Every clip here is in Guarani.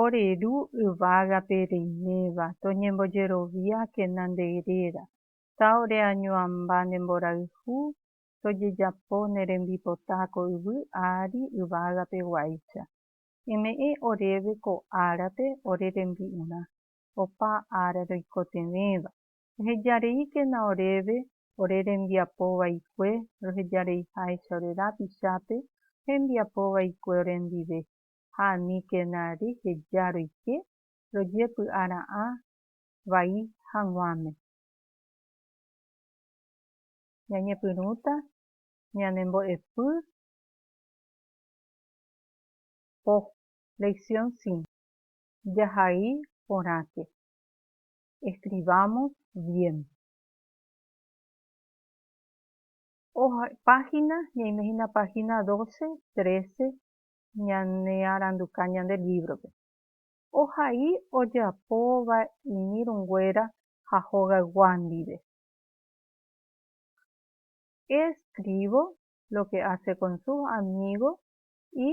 Ore Ru yvágape reiméva, toñembojeroviákena nde réra, ta ore añoamba nde mborayhu, tojejapo ne rembipota ko yvy ári yvágape guáicha. Eme'ẽ oréve ko árape ore rembi'urã, opa ára roikotevẽva. Eheja reíkena oréve ore rembiapo vaikue, roheja reiháicha ore rapichápe hembiapo vaikue orendive. ha aníkena reheja roike rojepy'ara'ã vai haguãme. Ñañepyrũta ñanembo'epy po. Lección 5. Jahai porãke. Escribamos bien. Página, ñaime hína página 12, 13, ñanearanduka ñande lívrope. Ohai ojapóva iñirũnguéra ha hogaygua ndive. Eskrívo lo ke ase kon sus amígo i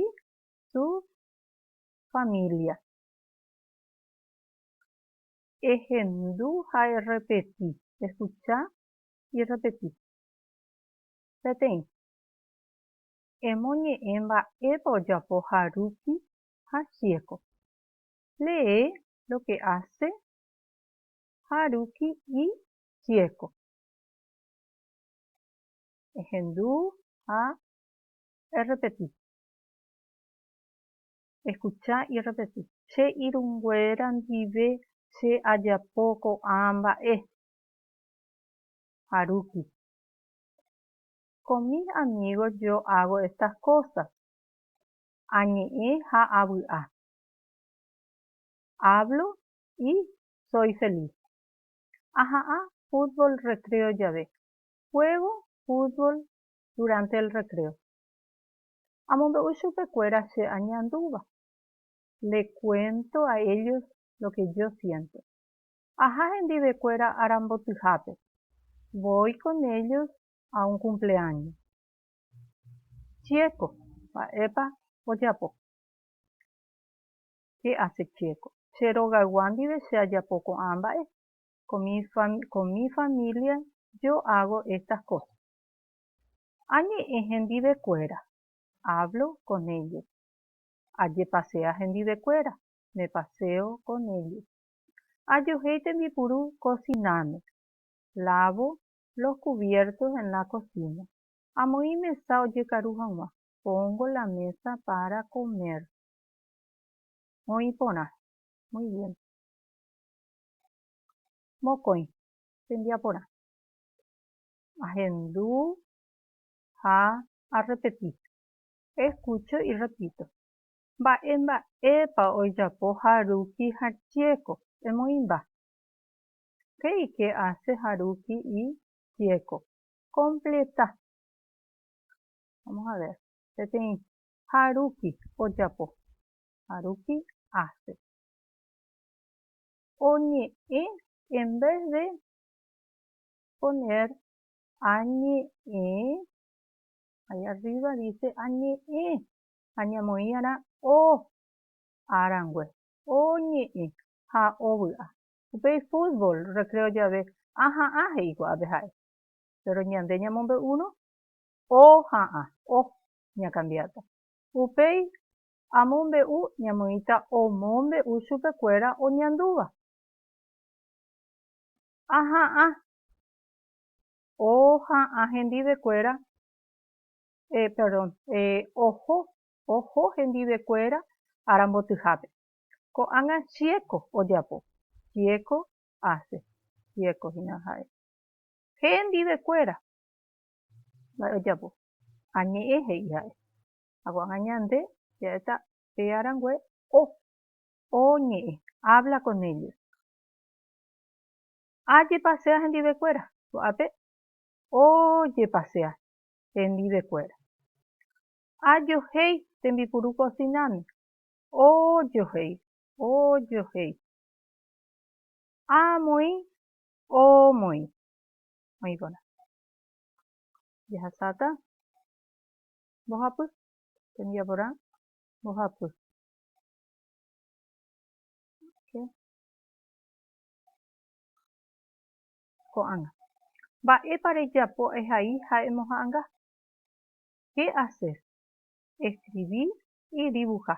su família. Ehendu ha errepeti, eskucha i repeti. Peteĩ. emoñe'ẽ mba'épa ojapo Haruki ha Chieko. Lee lo que hace Haruki y Chieko. Ehendu ha errepeti. Escucha y repeti. Che irũnguéra ndive che ajapo ko'ã mba'e. Haruki. Con mis amigos yo hago estas cosas, añe'ẽ ha avy'a. Hablo y soy feliz. Aha'ã fútbol recreo jave, juego fútbol durante el recreo. Amombe'u chupekuéra che añandúva, le cuento a ellos lo que yo siento. Aha hendivekuéra arambotyhápe, voy con ellos ha un cumpleaño. Chíeko, mba'épa ojapo? Che ase Chíeko. Che rogaygua ndive che ajapo ko'ã mba'e. Con mi familia yo hago estas cosas. Añe'ẽ hendivekuéra, hablo con ellos. Ajepasea hendivekuéra, me paseo con ellos. Ajohéi tembipuru cocináme, lavo los cubiertos en la cocina, amoĩ mesa ojekaru hag̃ua, pongo la mesa para comer. Oĩ porã. Muy bien. Mokõi. Tembiaporã. Ahendu ha arrepeti. Escucho y repito. Mba'e mba'épa ojapo ha ruki ha chieko? Emoĩmba. Che ike ace ha ruki y tieko. Completa. Vamos a ver. Peteĩ. Ha ruki. Ojapo. Ha ruki. Ace. Oñe'ẽ en vez de poner añe'ẽ. Ahí arriba dice añe'ẽ. Añamoĩ ara o. Arangue. Oñe'ẽ. Ha ovy'a. Upéi fútbol recreo jave aha'ã he'i ko'ápe ha'e. Péro ñande ñamombe'úrõ oha'ã, oh, ñakambiáta. Upéi amombe'u ñamoĩta omombe'u chupekuéra oñandúva. Aha'ã, oha'ã hendivekuéra, eh, perdón, eh, oho, oho hendivekuéra arambotyhápe. Ko'ág̃a chieko ojapo. Chieko hace. Chieko hína ha'e. Hendivekuéra mba'e ojapo. Añe'ẽ he'i ha'e. Ha ko'ág̃a ñande ja'éta pe arangue o. O ñe'ẽ. Habla con ellos. Ajepasea hendivekuéra. Ko'ápe ojepasea hendivekuéra. Ajohéi tembipuru kosináme. ojohéi, ojohéi. A moĩ, o moĩ. Oĩ porã. Jahasáta, mbohapy. Tembi'a porã, mbohapy. Ko'ág̃a. Mba'épa rejapo ehai ha emoha'ãnga? Qué hacer? Escribir idivuha.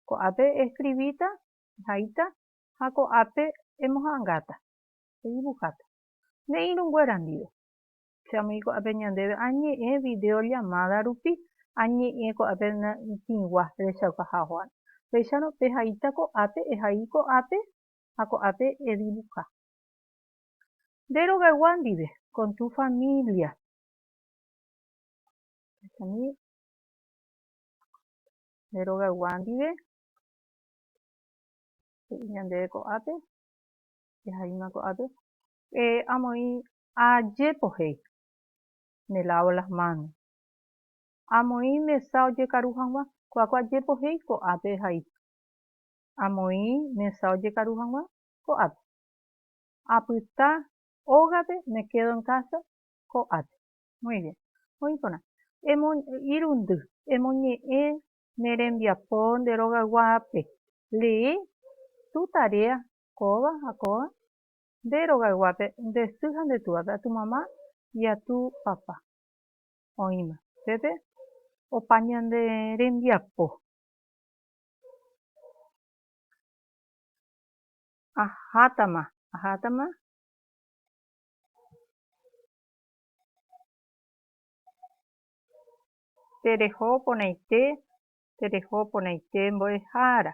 Ko'ápe eeskrivíta, ehaíta ha ko'ápe emoha'angáta, edivuháta. Ne irũnguéra ndive. Che amoĩ ko'ápe ñandéve añe'ẽ vidéo llamáda rupi, añe'ẽ ko'ápe tĩgua rechauka haguã. Péicharõ pehaíta ko'ápe, ehai ko'ápe ha ko'ápe edivuha. Nde rogaygua ndive, con tu familia. Echami ne rogaygua ndive, he'i ñandéve ko'ápe, jahaíma ko'ápe, amoĩ ajépo he'i, me lavo las manos, amoĩ mesa ojekaru hag̃ua, kuáko ajépo he'i ko'ápe jaha'i, amoĩ mesa ojekaru hag̃ua ko'ápe, apyta ógape me quedo en casa ko'ápe. Muy bien. Oĩ porã. Emo, irundy. Emoñe'ẽ ne rembiapo nde rogayguápe. Lee tu tarea kóva ha kóva nde rogayguápe nde sy ha nde túvape, a tu mamá y a tu papá. Oĩma. Pépe opa ñande rembiapo. Ahátama, ahátama. Tereho porãite, tereho porãite mbo'ehára.